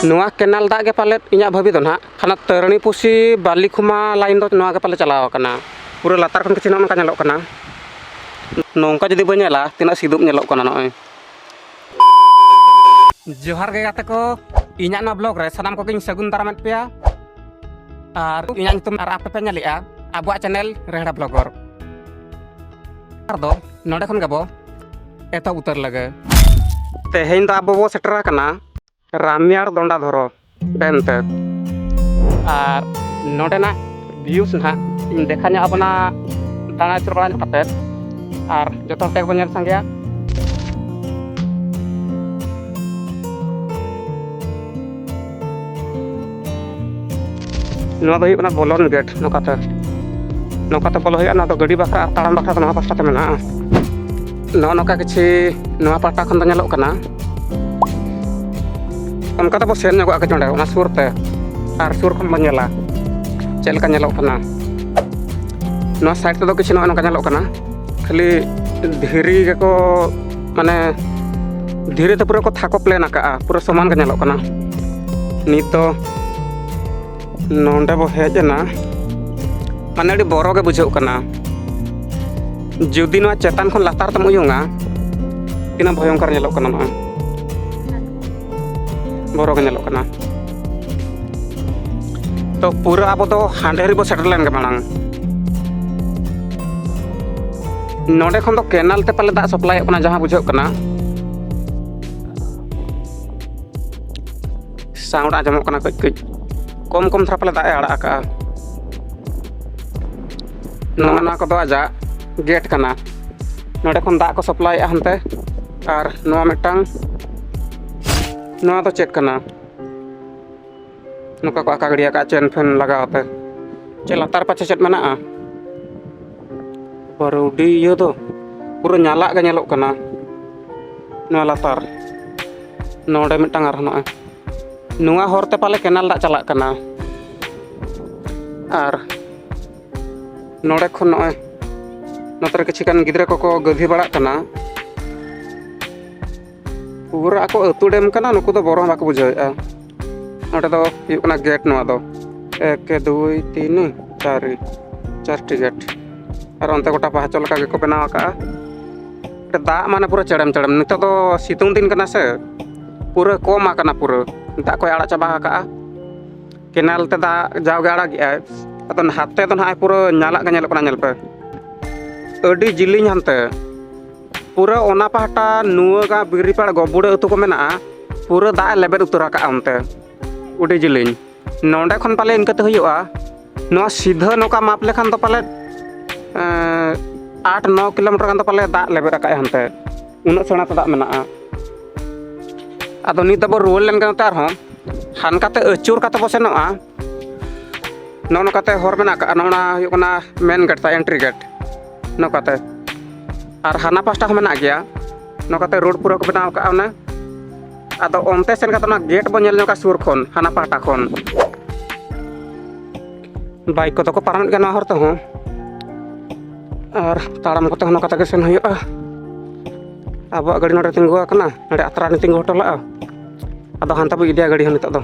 ᱱᱚᱣᱟ ᱠᱮᱱᱟᱞ ᱫᱟᱜ ᱜᱮ ᱯᱟᱞᱮᱫ ᱤᱧᱟᱹᱜ ᱵᱷᱟᱹᱵᱤ ᱫᱚ ᱱᱟᱦᱟᱜ ᱦᱟᱱᱟ ᱛᱟᱹᱨᱟᱹᱱᱤ ᱯᱩᱥᱤ ᱵᱟᱨᱞᱤ ᱠᱷᱩᱢᱟ ᱞᱟᱭᱤᱱ ᱫᱚ ᱱᱚᱣᱟ ᱜᱮ ᱯᱟᱞᱮ ᱪᱟᱞᱟᱣ ᱟᱠᱟᱱᱟ ᱯᱩᱨᱟᱹ ᱞᱟᱛᱟᱨ ᱠᱷᱚᱱ ᱠᱤᱪᱷᱩ ᱱᱚᱜᱼᱚ ᱱᱚᱝᱠᱟ ᱧᱮᱞᱚᱜ ᱠᱟᱱᱟ ᱱᱚᱝᱠᱟ ᱡᱩᱫᱤ ᱵᱚᱱ ᱧᱮᱞᱟ ᱛᱤᱱᱟᱹᱜ ᱥᱤᱫᱩᱯ ᱧᱮᱞᱚᱜ ᱠᱟᱱᱟ ᱱᱚᱜᱼᱚᱭ ᱡᱚᱦᱟᱨ ᱜᱮ ᱜᱟᱛᱮ ᱠᱚ ᱤᱧᱟᱹᱜ ᱱᱚᱣᱟ ᱵᱞᱚᱜ ᱨᱮ ᱥᱟᱱᱟᱢ ᱠᱚᱜᱮᱧ ᱥᱟᱹᱜᱩᱱ ᱫᱟᱨᱟᱢᱮᱫ ᱯᱮᱭᱟ ᱟᱨ ᱤᱧᱟᱹᱜ ᱧᱩᱛᱩᱢ ᱟᱨ ᱟᱯᱮ ᱯᱮ ᱧᱮᱞᱮᱜᱼᱟ ᱟᱵᱚᱣᱟᱜ ᱪᱮᱱᱮᱞ ᱨᱮᱦᱲᱟ ᱵᱞᱚᱜᱚᱨ ᱟᱨ ᱫᱚ ᱱᱚᱰᱮ ᱠᱷᱚᱱ ᱜᱮᱵᱚ ᱮᱛᱚᱦᱚᱵ ᱩᱛᱟᱹᱨ ᱞᱟᱹᱜᱟᱹ ᱛᱮᱦᱮᱧ ᱫᱚ ᱟᱵᱚ ᱵᱚ ᱥᱮᱴᱮᱨ ᱟᱠᱟᱱᱟ ᱨᱟᱢᱭᱟᱲ ᱫᱚᱱᱰᱟ ᱫᱷᱚᱨᱚ ᱰᱮᱢ ᱛᱮ ᱟᱨ ᱱᱚᱰᱮᱱᱟᱜ ᱵᱷᱤᱭᱩᱥ ᱱᱟᱦᱟᱜ ᱤᱧ ᱫᱮᱠᱷᱟ ᱧᱚᱜ ᱟᱵᱚᱱᱟ ᱫᱟᱬᱟ ᱟᱹᱪᱩᱨ ᱵᱟᱲᱟ ᱧᱚᱜ ᱠᱟᱛᱮᱫ ᱟᱨ ᱡᱚᱛᱚ ᱦᱚᱲ ᱛᱮᱜᱮ ᱵᱚᱱ ᱧᱮᱞ ᱥᱟᱸᱜᱮᱭᱟ ᱱᱚᱣᱟ ᱫᱚ ᱦᱩᱭᱩᱜ ᱠᱟᱱᱟ ᱵᱚᱞᱚᱱ ᱜᱮᱴ ᱱᱚᱝᱠᱟᱛᱮ ᱱᱚᱝᱠᱟᱛᱮ ᱵᱚᱞᱚ ᱦᱩᱭᱩᱜᱼᱟ ᱱᱚᱣᱟ ᱫᱚ ᱜᱟᱹᱰᱤ ᱵᱟᱠᱷᱨᱟ ᱟᱨ ᱛᱟᱲᱟᱢ ᱵᱟᱠᱷᱨᱟ ᱫᱚ ᱱᱚᱣᱟ ᱯᱟᱥᱴᱟ ᱛᱮ ᱢᱮᱱᱟᱜᱼᱟ ᱱᱚᱜᱼᱚ ᱱᱚᱝᱠᱟ ᱠᱤᱪᱷᱩ ᱱᱚᱣᱟ ᱯᱟᱦᱴᱟ ᱠᱷᱚᱱ ᱫᱚ ᱧᱮᱞᱚᱜ ᱠᱟᱱᱟ ᱚᱱᱠᱟ ᱛᱮᱵᱚ ᱥᱮᱱ ᱧᱚᱜᱚᱜᱼᱟ ᱠᱟᱹᱡ ᱚᱸᱰᱮ ᱚᱱᱟ ᱥᱩᱨ ᱛᱮ ᱟᱨ ᱥᱩᱨ ᱠᱷᱚᱱ ᱵᱚᱱ ᱧᱮᱞᱟ ᱪᱮᱫ ᱞᱮᱠᱟ ᱧᱮᱞᱚᱜ ᱠᱟᱱᱟ ᱱᱚᱣᱟ ᱥᱟᱭᱤᱰ ᱛᱮᱫᱚ ᱠᱤᱪᱷᱩ ᱱᱚᱜᱼᱚ ᱱᱚᱝᱠᱟ ᱧᱮᱞᱚᱜ ᱠᱟᱱᱟ ᱠᱷᱟᱹᱞᱤ ᱫᱷᱤᱨᱤ ᱜᱮᱠᱚ ᱢᱟᱱᱮ ᱫᱷᱤᱨᱤ ᱛᱮ ᱯᱩᱨᱟᱹ ᱠᱚ ᱛᱷᱟᱠᱚ ᱯᱞᱮᱱ ᱟᱠᱟᱜᱼᱟ ᱯᱩᱨᱟᱹ ᱥᱚᱢᱟᱱ ᱜᱮ ᱧᱮᱞᱚᱜ ᱠᱟᱱᱟ ᱱᱤᱛ ᱫᱚ ᱱᱚᱰᱮ ᱵᱚ ᱦᱮᱡ ᱮᱱᱟ ᱢᱟᱱᱮ ᱟᱹᱰᱤ ᱵᱚᱨᱚ ᱜᱮ ᱵᱩᱡᱷᱟᱹᱜ ᱠᱟᱱᱟ ᱡᱩᱫᱤ ᱱᱚᱣᱟ ᱪᱮᱛᱟᱱ ᱠᱷᱚᱱ ᱞᱟᱛᱟᱨ ᱛᱮᱢ ᱩᱭᱩᱝᱟ ᱛᱤᱱᱟᱹᱜ ᱵᱷᱚᱭᱚᱝᱠᱚᱨ ᱧᱮᱞᱚᱜ ᱠᱟᱱᱟ ᱱᱚᱜᱼᱚᱭ ᱵᱚᱨᱚ ᱜᱮ ᱧᱮᱞᱚᱜ ᱠᱟᱱᱟ ᱛᱚ ᱯᱩᱨᱟᱹ ᱟᱵᱚ ᱫᱚ ᱦᱟᱸᱰᱮ ᱨᱮᱵᱚ ᱥᱮᱴᱮᱨ ᱞᱮᱱ ᱜᱮ ᱢᱟᱲᱟᱝ ᱱᱚᱰᱮ ᱠᱷᱚᱱ ᱫᱚ ᱠᱮᱱᱟᱞ ᱛᱮ ᱯᱟᱞᱮ ᱫᱟᱜ ᱥᱟᱯᱞᱟᱭᱚᱜ ᱠᱟᱱᱟ ᱡᱟᱦᱟᱸ ᱵᱩᱡᱷᱟᱹᱜ ᱠᱟᱱᱟ ᱥᱟᱣᱩᱱᱰ ᱟᱸᱡᱚᱢᱚᱜ ᱠᱟᱱᱟ ᱠᱟᱹᱡ ᱠᱟᱹᱡ ᱠᱚᱢ ᱠᱚᱢ ᱫᱷᱟᱨᱟ ᱯᱟᱞᱮ ᱫᱟᱜ ᱮ ᱟᱲᱟᱜ ᱟᱠᱟᱜᱼᱟ ᱱᱚᱜᱼᱚ ᱱᱚᱣᱟ ᱠᱚᱫᱚ ᱟᱡᱟᱜ ᱜᱮᱴ ᱠᱟᱱᱟ ᱱᱚᱰᱮ ᱠᱷᱚᱱ ᱫᱟᱜ ᱠᱚ ᱥᱟᱯᱞᱟᱭᱮᱜᱼᱟ ᱦᱟᱱᱛᱮ ᱟᱨ ᱱᱚᱣᱟ ᱢᱤᱫᱴᱟᱝ ᱱᱚᱣᱟ ᱫᱚ ᱪᱮᱫ ᱠᱟᱱᱟ ᱱᱚᱝᱠᱟ ᱠᱚ ᱟᱠᱟ ᱜᱤᱰᱤ ᱟᱠᱟᱫᱼᱟ ᱪᱮᱱ ᱯᱷᱮᱱ ᱞᱟᱜᱟᱣ ᱛᱮ ᱪᱮᱫ ᱞᱟᱛᱟᱨ ᱯᱟᱪᱷᱮ ᱪᱮᱫ ᱢᱮᱱᱟᱜᱼᱟ ᱯᱟᱹᱨᱩᱰᱤ ᱤᱭᱟᱹ ᱫᱚ ᱯᱩᱨᱟᱹ ᱧᱟᱞᱟᱜ ᱜᱮ ᱧᱮᱞᱚᱜ ᱠᱟᱱᱟ ᱱᱚᱣᱟ ᱞᱟᱛᱟᱨ ᱱᱚᱰᱮ ᱢᱤᱫᱴᱟᱝ ᱟᱨᱦᱚᱸ ᱱᱚᱜᱼᱚᱭ ᱱᱚᱣᱟ ᱦᱚᱨᱛᱮ ᱯᱟᱞᱮ ᱠᱮᱱᱮᱞ ᱫᱟᱜ ᱪᱟᱞᱟᱜ ᱠᱟᱱᱟ ᱟᱨ ᱱᱚᱰᱮ ᱠᱷᱚᱱ ᱱᱚᱜᱼᱚᱭ ᱱᱚᱛᱮ ᱨᱮ ᱠᱤᱪᱷᱩ ᱜᱟᱱ ᱜᱤᱫᱽᱨᱟᱹ ᱠᱚᱠᱚ ᱜᱟᱹᱵᱷᱤ ᱵᱟᱲᱟᱜ ᱠᱟᱱᱟ ᱯᱩᱨᱟᱹ ᱟᱠᱚ ᱟᱹᱛᱩ ᱰᱮᱢ ᱠᱟᱱᱟ ᱱᱩᱠᱩ ᱫᱚ ᱵᱚᱨᱚ ᱵᱟᱠᱚ ᱵᱩᱡᱷᱟᱹᱣᱮᱫᱼᱟ ᱱᱚᱰᱮ ᱫᱚ ᱦᱩᱭᱩᱜ ᱠᱟᱱᱟ ᱜᱮᱴ ᱱᱚᱣᱟ ᱫᱚ ᱮᱠ ᱫᱩᱭ ᱛᱤᱱ ᱪᱟᱨᱤ ᱪᱟᱨᱴᱤ ᱜᱮᱴ ᱟᱨ ᱚᱱᱛᱮ ᱜᱚᱴᱟ ᱯᱟᱦᱟᱪᱚ ᱞᱮᱠᱟ ᱜᱮᱠᱚ ᱵᱮᱱᱟᱣ ᱟᱠᱟᱜᱼᱟ ᱫᱟᱜ ᱢᱟᱱᱮ ᱯᱩᱨᱟᱹ ᱪᱮᱲᱮᱢ ᱪᱮᱲᱮᱢ ᱱᱤᱛᱚᱜ ᱫᱚ ᱥᱤᱛᱩᱝ ᱫᱤᱱ ᱠᱟᱱᱟ ᱥᱮ ᱯᱩᱨᱟᱹ ᱠᱚᱢ ᱟᱠᱟᱱᱟ ᱯᱩᱨᱟᱹ ᱫᱟᱜ ᱠᱚᱭ ᱟᱲᱟᱜ ᱪᱟᱵᱟ ᱟᱠᱟᱜᱼᱟ ᱠᱮᱱᱮᱞ ᱛᱮ ᱫᱟᱜ ᱡᱟᱣᱜᱮ ᱟᱲᱟᱜᱮᱜᱼᱟᱭ ᱟᱫᱚ ᱱᱟᱛᱮ ᱫᱚ ᱱᱟᱦᱟᱜ ᱯᱩᱨᱟᱹ ᱧᱟᱞᱟᱜ ᱜᱮ ᱧᱮᱞᱚᱜ ᱠᱟᱱᱟ ᱧᱮᱞ ᱯᱮ ᱟᱹᱰᱤ ᱡᱤᱞᱤᱧ ᱦᱟᱱᱛᱮ ᱯᱩᱨᱟᱹ ᱚᱱᱟ ᱯᱟᱦᱴᱟ ᱱᱩᱣᱟᱹᱜᱟ ᱵᱤᱨᱤᱯᱟᱲ ᱜᱚᱵᱩᱲᱟᱹ ᱟᱹᱛᱩ ᱠᱚ ᱢᱮᱱᱟᱜᱼᱟ ᱯᱩᱨᱟᱹ ᱫᱟᱜ ᱮ ᱞᱮᱵᱮᱫ ᱩᱛᱟᱹᱨ ᱟᱠᱟᱫᱼᱟ ᱚᱱᱛᱮ ᱟᱹᱰᱤ ᱡᱤᱞᱤᱧ ᱱᱚᱰᱮ ᱠᱷᱚᱱ ᱯᱟᱞᱮ ᱤᱱᱠᱟᱹᱛᱮ ᱦᱩᱭᱩᱜᱼᱟ ᱱᱚᱣᱟ ᱥᱤᱫᱷᱟᱹ ᱱᱚᱝᱠᱟ ᱢᱟᱯ ᱞᱮᱠᱷᱟᱱ ᱫᱚ ᱯᱟᱞᱮ ᱟᱴ ᱱᱚ ᱠᱤᱞᱳᱢᱤᱴᱟᱨ ᱜᱟᱱ ᱫᱚ ᱯᱟᱞᱮ ᱫᱟᱜ ᱞᱮᱵᱮᱫ ᱟᱠᱟᱫᱼᱟᱭ ᱦᱟᱱᱛᱮ ᱩᱱᱟᱹᱜ ᱥᱮᱬᱟ ᱛᱮ ᱫᱟᱜ ᱢᱮᱱᱟᱜᱼᱟ ᱟᱫᱚ ᱱᱤᱛ ᱫᱚᱵᱚ ᱨᱩᱣᱟᱹᱲ ᱞᱮᱱ ᱠᱟᱱᱟ ᱟᱨᱦᱚᱸ ᱦᱟᱱᱠᱟᱛᱮ ᱟᱹᱪᱩᱨ ᱠᱟᱛᱮ ᱵᱚ ᱥᱮᱱᱚᱜᱼᱟ ᱱᱚᱜᱼᱚ ᱱᱚᱝᱠᱟᱛᱮ ᱦᱚᱨ ᱢᱮᱱᱟᱜ ᱠᱟᱜᱼᱟ ᱱᱚᱜᱼᱚ ᱱᱟ ᱦᱩᱭᱩᱜ ᱠᱟᱱᱟ ᱢᱮᱱ ᱜᱮᱴ ᱛᱟ ᱮᱱᱴᱨᱤ ᱜᱮᱴ ᱱᱚᱝᱠᱟᱛᱮ ᱟᱨ ᱦᱟᱱᱟ ᱯᱟᱥᱴᱟ ᱦᱚᱸ ᱢᱮᱱᱟᱜ ᱜᱮᱭᱟ ᱱᱚᱝᱠᱟᱛᱮ ᱨᱳᱰ ᱯᱩᱨᱟᱹ ᱠᱚ ᱵᱮᱱᱟᱣ ᱠᱟᱜᱼᱟ ᱚᱱᱟ ᱟᱫᱚ ᱚᱱᱛᱮ ᱥᱮᱱ ᱠᱟᱛᱮ ᱚᱱᱟ ᱜᱮᱴ ᱵᱚ ᱧᱮᱞ ᱧᱚᱜᱟ ᱥᱩᱨ ᱠᱷᱚᱱ ᱦᱟᱱᱟ ᱯᱟᱦᱴᱟ ᱠᱷᱚᱱ ᱵᱟᱭᱤᱠ ᱠᱚᱫᱚ ᱠᱚ ᱯᱟᱨᱚᱢᱮᱫ ᱜᱮᱭᱟ ᱱᱚᱣᱟ ᱦᱚᱨ ᱛᱮᱦᱚᱸ ᱟᱨ ᱛᱟᱲᱟᱢ ᱠᱚᱛᱮ ᱦᱚᱸ ᱱᱚᱝᱠᱟ ᱛᱮᱜᱮ ᱥᱮᱱ ᱦᱩᱭᱩᱜᱼᱟ ᱟᱵᱚᱣᱟᱜ ᱜᱟᱹᱰᱤ ᱱᱚᱰᱮ ᱛᱤᱸᱜᱩ ᱟᱠᱟᱱᱟ ᱱᱚᱰᱮ ᱟᱛᱨᱟ ᱨᱮ ᱛᱤᱸᱜᱩ ᱦᱚᱴᱚ ᱞᱟᱜᱼᱟ ᱟᱫᱚ ᱦᱟᱱᱛᱮ ᱵᱚ ᱤᱫᱤᱭᱟ ᱜᱟᱹᱰᱤ ᱦᱚᱸ ᱱᱤᱛᱚᱜ ᱫᱚ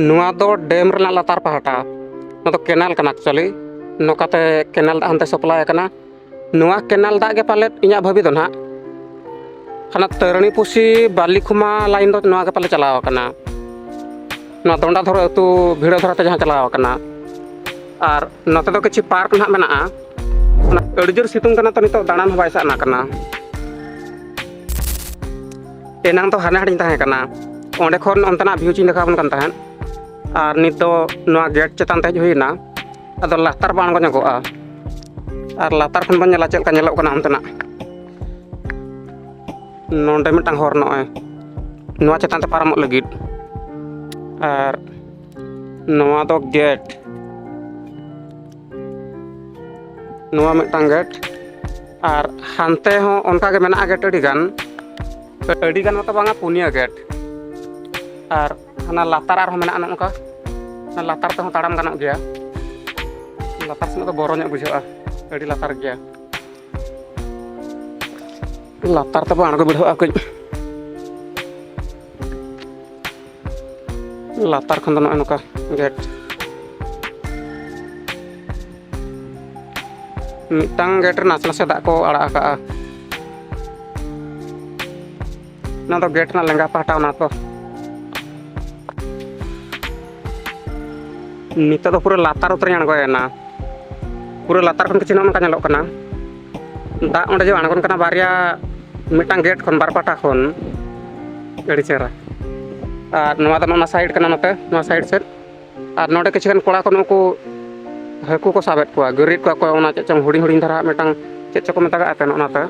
ᱱᱚᱣᱟ ᱫᱚ ᱰᱮᱢ ᱨᱮᱱᱟᱜ ᱞᱟᱛᱟᱨ ᱯᱟᱦᱴᱟ ᱱᱚᱣᱟ ᱫᱚ ᱠᱮᱱᱟᱞ ᱠᱟᱱᱟ ᱮᱠᱪᱩᱭᱮᱞᱤ ᱱᱚᱝᱠᱟᱛᱮ ᱠᱮᱱᱟᱞ ᱫᱟᱜ ᱦᱟᱱᱛᱮ ᱥᱟᱯᱞᱟᱭ ᱟᱠᱟᱱᱟ ᱱᱚᱣᱟ ᱠᱮᱱᱟᱞ ᱫᱟᱜ ᱜᱮ ᱯᱟᱞᱮᱫ ᱤᱧᱟᱹᱜ ᱵᱷᱟᱹᱵᱤ ᱫᱚ ᱱᱟᱦᱟᱜ ᱦᱟᱱᱟ ᱛᱟᱹᱨᱟᱹᱱᱤ ᱯᱩᱥᱤ ᱵᱟᱨᱞᱤᱠᱷᱩᱢᱟ ᱞᱟᱭᱤᱱ ᱫᱚ ᱱᱚᱣᱟ ᱜᱮ ᱯᱟᱞᱮ ᱪᱟᱞᱟᱣ ᱟᱠᱟᱱᱟ ᱱᱚᱣᱟ ᱫᱚᱱᱰᱟ ᱫᱷᱚᱨᱚ ᱟᱹᱛᱩ ᱵᱷᱤᱲᱟᱹ ᱫᱷᱚᱨᱚ ᱛᱮ ᱡᱟᱦᱟᱸ ᱪᱟᱞᱟᱣ ᱟᱠᱟᱱᱟ ᱟᱨ ᱱᱚᱛᱮ ᱫᱚ ᱠᱤᱪᱷᱩ ᱯᱟᱨᱠ ᱱᱟᱦᱟᱜ ᱢᱮᱱᱟᱜᱼᱟ ᱟᱹᱰᱤ ᱡᱳᱨ ᱥᱤᱛᱩᱝ ᱠᱟᱱᱟ ᱛᱚ ᱱᱤᱛᱚᱜ ᱫᱟᱬᱟᱱ ᱦᱚᱸ ᱵᱟᱭ ᱥᱟᱱᱟ ᱠᱟᱱᱟ ᱮᱱᱟᱝ ᱫᱚ ᱦᱟᱱᱮ ᱦᱟᱸᱰᱮᱧ ᱛᱟᱦᱮᱸ ᱠᱟᱱᱟ ᱚᱸᱰᱮ ᱠᱷᱚᱱ ᱚᱱᱛᱮᱱᱟᱜ ᱵᱷᱤᱭᱩ ᱪᱤᱧ ᱫᱮᱠᱷᱟᱣ ᱵᱚᱱ ᱠᱟᱱ ᱛᱟᱦᱮᱸᱫ ᱟᱨ ᱱᱤᱛ ᱫᱚ ᱱᱚᱣᱟ ᱜᱮᱴ ᱪᱮᱛᱟᱱ ᱛᱮ ᱦᱮᱡ ᱦᱩᱭᱱᱟ ᱟᱫᱚ ᱞᱟᱛᱟᱨ ᱵᱚᱱ ᱟᱬᱜᱚ ᱧᱚᱜᱚᱜᱼᱟ ᱟᱨ ᱞᱟᱛᱟᱨ ᱠᱷᱚᱱ ᱵᱚᱱ ᱧᱮᱞᱟ ᱪᱮᱫ ᱞᱮᱠᱟ ᱧᱮᱞᱚᱜ ᱠᱟᱱᱟ ᱚᱱᱛᱮᱱᱟᱜ ᱱᱚᱰᱮ ᱢᱤᱫᱴᱟᱝ ᱦᱚᱨ ᱱᱚᱜᱼᱚᱭ ᱱᱚᱣᱟ ᱪᱮᱛᱟᱱ ᱛᱮ ᱯᱟᱨᱚᱢᱚᱜ ᱞᱟᱹᱜᱤᱫ ᱟᱨ ᱱᱚᱣᱟ ᱫᱚ ᱜᱮᱴ ᱱᱚᱣᱟ ᱢᱤᱫᱴᱟᱝ ᱜᱮᱴ ᱟᱨ ᱦᱟᱱᱛᱮ ᱦᱚᱸ ᱚᱱᱠᱟᱜᱮ ᱢᱮᱱᱟᱜᱼᱟ ᱜᱮᱴ ᱟᱹᱰᱤ ᱜᱟᱱ ᱟᱹᱰᱤ ᱜᱟᱱ ᱢᱟᱛᱚ ᱵᱟᱝᱟ ᱯᱩᱱᱭᱟᱹ ᱜᱮᱴ ᱟᱨ ᱦᱟᱱᱟ ᱞᱟᱛᱟᱨ ᱟᱨᱦᱚᱸ ᱢᱮᱱᱟᱜᱼᱟ ᱱᱚᱝᱠᱟ ᱚᱱᱟ ᱞᱟᱛᱟᱨ ᱛᱮᱦᱚᱸ ᱛᱟᱲᱟᱢ ᱜᱟᱱᱚᱜ ᱜᱮᱭᱟ ᱞᱟᱛᱟᱨ ᱥᱮᱱᱟᱜ ᱫᱚ ᱵᱚᱨᱚ ᱧᱚᱜ ᱵᱩᱡᱷᱟᱹᱜᱼᱟ ᱟᱹᱰᱤ ᱞᱟᱛᱟᱨ ᱜᱮᱭᱟ ᱞᱟᱛᱟᱨ ᱛᱮᱵᱚ ᱟᱬᱜᱚ ᱵᱤᱰᱷᱟᱹᱜᱼᱟ ᱠᱟᱹᱡ ᱞᱟᱛᱟᱨ ᱠᱷᱚᱱ ᱫᱚ ᱱᱚᱜᱼᱚᱭ ᱱᱚᱝᱠᱟ ᱜᱮᱴ ᱢᱤᱫᱴᱟᱝ ᱜᱮᱴ ᱨᱮ ᱱᱟᱥᱮ ᱱᱟᱥᱮ ᱫᱟᱜ ᱠᱚ ᱟᱲᱟᱜ ᱟᱠᱟᱜᱼᱟ ᱱᱚᱣᱟ ᱫᱚ ᱜᱮᱴ ᱨᱮᱱᱟᱜ ᱞᱮᱸᱜᱟ ᱯᱟᱦᱴᱟ ᱚᱱᱟ ᱛᱚ ᱱᱤᱛᱚᱜ ᱫᱚ ᱯᱩᱨᱟᱹ ᱞᱟᱛᱟᱨ ᱩᱛᱟᱹᱨᱤᱧ ᱟᱬᱜᱚᱭᱮᱱᱟ ᱯᱩᱨᱟᱹ ᱞᱟᱛᱟᱨ ᱠᱷᱚᱱ ᱠᱤᱪᱷᱩ ᱱᱚᱜᱼᱚ ᱱᱚᱝᱠᱟ ᱧᱮᱞᱚᱜ ᱠᱟᱱᱟ ᱫᱟᱜ ᱚᱸᱰᱮ ᱡᱮ ᱟᱬᱜᱚᱱ ᱠᱟᱱᱟ ᱵᱟᱨᱭᱟ ᱢᱤᱫᱴᱟᱝ ᱜᱮᱴ ᱠᱷᱚᱱ ᱵᱟᱨ ᱯᱟᱴᱟ ᱠᱷᱚᱱ ᱟᱹᱰᱤ ᱪᱮᱦᱨᱟ ᱟᱨ ᱱᱚᱣᱟ ᱫᱚ ᱱᱚᱣᱟ ᱥᱟᱭᱤᱰ ᱠᱟᱱᱟ ᱱᱚᱛᱮ ᱱᱚᱣᱟ ᱥᱟᱭᱤᱰ ᱥᱮᱫ ᱟᱨ ᱱᱚᱰᱮ ᱠᱤᱪᱷᱩ ᱜᱟᱱ ᱠᱚᱲᱟ ᱠᱚ ᱱᱩᱠᱩ ᱦᱟᱹᱠᱩ ᱠᱚ ᱥᱟᱵᱮᱫ ᱠᱚᱣᱟ ᱜᱟᱹᱨᱤᱫ ᱠᱚᱣᱟ ᱠᱚ ᱚᱱᱟ ᱪᱮᱫ ᱪᱚᱝ ᱦᱩᱰᱤᱧ ᱦᱩᱰᱤᱧ ᱫᱷᱟᱨᱟ ᱢᱤᱫᱴᱟᱝ ᱪᱮᱫ ᱪᱚᱠᱚ ᱢᱮᱛᱟᱜᱟᱜ ᱠᱟᱱᱟ ᱚᱱᱟᱛᱮ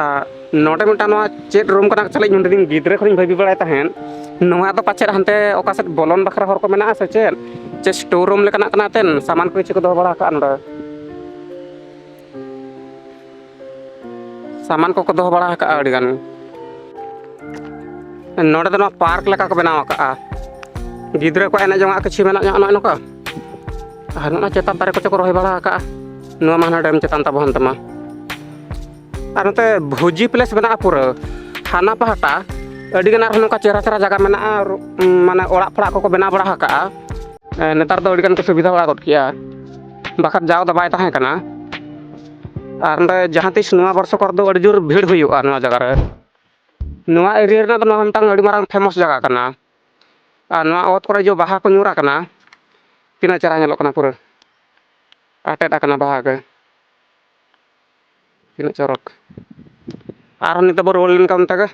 ᱟᱨ ᱱᱚᱰᱮ ᱢᱤᱫᱴᱟᱝ ᱱᱚᱣᱟ ᱪᱮᱫ ᱨᱩᱢ ᱠᱟᱱᱟ ᱪᱟᱞᱮ ᱤᱧ ᱱᱚᱰᱮ ᱜᱤᱫᱽᱨᱟᱹ ᱠᱷᱚᱱᱤᱧ ᱵᱷᱟᱹᱵᱤ ᱵᱟᱲᱟᱭ ᱛᱟᱦᱮᱸᱫ ᱱᱚᱣᱟ ᱫᱚ ᱯᱟᱪᱮᱫ ᱦᱟᱱᱛᱮ ᱚᱠᱟ ᱥᱮᱫ ᱵᱚᱞᱚᱱ ᱵᱟᱠᱷᱨᱟ ᱦᱚᱨ ᱠᱚ ᱢᱮᱱᱟᱜᱼᱟ ᱥᱮ ᱪᱮᱫ ᱪᱮ ᱥᱴᱳᱨ ᱨᱩᱢ ᱞᱮᱠᱟᱱᱟᱜ ᱠᱟᱱᱟ ᱛᱮᱱ ᱥᱟᱢᱟᱱ ᱠᱚ ᱠᱤᱪᱷᱩ ᱠᱚ ᱫᱚᱦᱚ ᱵᱟᱲᱟ ᱠᱟᱜᱼᱟ ᱱᱚᱰᱮ ᱥᱟᱢᱟᱱ ᱠᱚᱠᱚ ᱫᱚᱦᱚ ᱵᱟᱲᱟ ᱟᱠᱟᱫᱼᱟ ᱟᱹᱰᱤ ᱜᱟᱱ ᱱᱚᱰᱮ ᱫᱚ ᱱᱚᱣᱟ ᱯᱟᱨᱠ ᱞᱮᱠᱟ ᱠᱚ ᱵᱮᱱᱟᱣ ᱟᱠᱟᱫᱼᱟ ᱜᱤᱫᱽᱨᱟᱹ ᱠᱚ ᱮᱱᱮᱡ ᱡᱚᱝᱟᱜ ᱠᱤᱪᱷᱩ ᱢᱮᱱᱟᱜ ᱧᱚᱜ ᱱᱚᱜᱼᱚᱭ ᱱᱚᱝᱠᱟ ᱟᱨ ᱱᱚᱜᱼᱚ ᱪᱮᱛᱟᱱ ᱫᱟᱨᱮ ᱠᱚᱛᱮ ᱠᱚ ᱨᱚᱦᱚᱭ ᱵᱟᱲᱟ ᱟᱠᱟᱫᱼᱟ ᱱᱚᱣᱟ ᱢᱟ ᱦᱟᱱᱟ ᱰᱮᱢ ᱪᱮᱛᱟᱱ ᱛᱟᱵᱚ ᱦᱟᱱᱛᱮ ᱢᱟ ᱟᱨ ᱱᱚᱛᱮ ᱵᱷᱩᱡᱤ ᱯᱞᱮᱥ ᱢᱮᱱᱟᱜᱼᱟ ᱯᱩᱨᱟᱹ ᱦᱟᱱᱟ ᱯᱟᱦᱴᱟ ᱟᱹᱰᱤ ᱜᱟᱱ ᱟᱨᱦᱚᱸ ᱱᱚᱝᱠᱟ ᱪᱮᱦᱨᱟ ᱪᱮᱦᱨᱟ ᱡᱟᱭᱜᱟ ᱢᱮᱱᱟᱜᱼᱟ ᱟᱨ ᱢᱟᱱᱮ ᱚᱲᱟᱜ ᱯᱷᱚᱲᱟᱜ ᱠᱚᱠᱚ ᱵᱮᱱᱟᱣ ᱵᱟᱲᱟ ᱟᱠᱟᱫᱼᱟ ᱱᱮᱛᱟᱨ ᱫᱚ ᱟᱹᱰᱤ ᱜᱟᱱ ᱠᱚ ᱥᱩᱵᱤᱫᱷᱟ ᱵᱟᱲᱟ ᱜᱚᱫ ᱠᱮᱫᱼᱟ ᱵᱟᱠᱷᱟᱱ ᱡᱟᱣ ᱫᱚ ᱵᱟᱭ ᱛᱟᱦᱮᱸ ᱠᱟᱱᱟ ᱟᱨ ᱱᱚᱰᱮ ᱡᱟᱦᱟᱸ ᱛᱤᱥ ᱱᱚᱣᱟ ᱵᱚᱨᱥᱚ ᱠᱚᱨᱮ ᱫᱚ ᱟᱹᱰᱤ ᱡᱳᱨ ᱵᱷᱤᱲ ᱦᱩᱭᱩᱜᱼᱟ ᱱᱚᱣᱟ ᱡᱟᱭᱜᱟ ᱨᱮ ᱱᱚᱣᱟ ᱮᱨᱤᱭᱟ ᱨᱮᱱᱟᱜ ᱫᱚ ᱱᱚᱣᱟ ᱢᱤᱫᱴᱟᱝ ᱟᱹᱰᱤ ᱢᱟᱨᱟᱝ ᱯᱷᱮᱢᱟᱥ ᱡᱟᱭᱜᱟ ᱠᱟᱱᱟ ᱟᱨ ᱱᱚᱣᱟ ᱚᱛ ᱠᱚᱨᱮ ᱡᱮ ᱵᱟᱦᱟ ᱠᱚ ᱧᱩᱨ ᱟᱠᱟᱱᱟ ᱛᱤᱱᱟᱹᱜ ᱪᱮᱦᱨᱟ ᱧᱮᱞᱚᱜ ᱠᱟᱱᱟ ᱯᱩᱨᱟᱹ ᱟᱴᱮᱫ ᱟᱠᱟᱱᱟ ᱵᱟᱦᱟ ᱜᱮ ᱛᱤᱱᱟᱹᱜ ᱪᱚᱨᱚᱠ ᱟᱨᱦᱚᱸ ᱱᱤᱛᱚᱜ ᱵᱚ ᱨᱩᱣᱟᱹᱲ ᱞᱮᱱᱠᱷᱟᱱ ᱚᱱᱛᱮ ᱜᱮ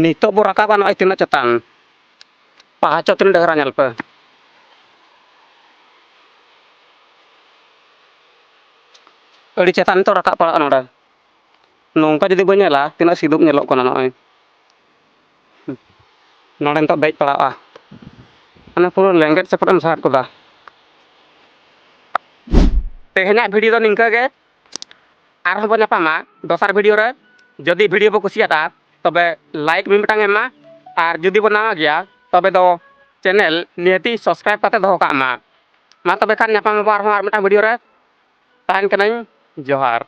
ᱱᱤᱛᱚᱜ ᱵᱚ ᱨᱟᱠᱟᱵᱟ ᱱᱚᱜᱼᱚᱭ ᱛᱤᱱᱟᱹᱜ ᱪᱮᱛᱟᱱ ᱯᱟᱦᱟᱪᱚ ᱛᱤᱱᱟᱹᱜ ᱰᱮᱦᱨᱟ ᱧᱮᱞ ᱯᱮ ᱟᱹᱰᱤ ᱪᱮᱛᱟᱱ ᱱᱤᱛᱚᱜ ᱨᱟᱠᱟᱵ ᱯᱟᱲᱟᱜᱼᱟ ᱱᱚᱰᱮ ᱱᱚᱝᱠᱟ ᱡᱩᱫᱤ ᱵᱚᱱ ᱧᱮᱞᱟ ᱛᱤᱱᱟᱹᱜ ᱥᱤᱫᱩᱯ ᱧᱮᱞᱚᱜ ᱠᱟᱱᱟ ᱱᱚᱜᱼᱚᱭ ᱱᱚᱰᱮ ᱱᱤᱛᱚᱜ ᱫᱮᱡ ᱯᱟᱲᱟᱣᱼᱟ ᱢᱟᱱᱮ ᱯᱩᱨᱟᱹ ᱞᱮᱸᱜᱮᱫ ᱥᱮᱯᱮᱫ ᱮᱢ ᱥᱟᱦᱟᱫ ᱠᱚᱫᱟ ᱛᱮᱦᱮᱧᱟᱜ ᱵᱷᱤᱰᱤᱭᱳ ᱫᱚ ᱱᱤᱝᱠᱟᱹ ᱜᱮ ᱟᱨᱦᱚᱸ ᱵᱚ ᱧᱟᱯᱟᱢᱟ ᱫᱚᱥᱟᱨ ᱵᱷᱤᱰᱤᱭᱳ ᱨᱮ ᱡᱩᱫᱤ ᱵᱷᱤᱰᱤᱭᱳ ᱵᱚ ᱠᱩᱥᱤᱭᱟᱫᱟ ᱛᱚᱵᱮ ᱞᱟᱭᱤᱠ ᱢᱤᱫ ᱢᱤᱫᱴᱟᱝ ᱮᱢᱟ ᱟᱨ ᱡᱩᱫᱤ ᱵᱚ ᱱᱟᱣᱟ ᱜᱮᱭᱟ ᱛᱚᱵᱮ ᱫᱚ ᱪᱮᱱᱮᱞ ᱱᱤᱦᱟᱹᱛᱤ ᱥᱟᱵᱥᱠᱨᱟᱭᱤᱵ ᱠᱟᱛᱮ ᱫᱚᱦᱚ ᱠᱟᱜ ᱢᱟ ᱢᱟ ᱛᱚᱵᱮ ᱠᱷᱟᱱ ᱧᱟᱯᱟᱢ ᱟᱵᱚ ᱟᱨᱦᱚᱸ ᱟᱨ ᱢᱤᱫᱴᱟᱝ ᱵᱷᱤᱰᱤᱭᱳ ᱨᱮ ᱛᱟᱦᱮᱱ ᱠᱟᱹᱱᱟᱹᱧ ᱡᱚᱦᱟᱨ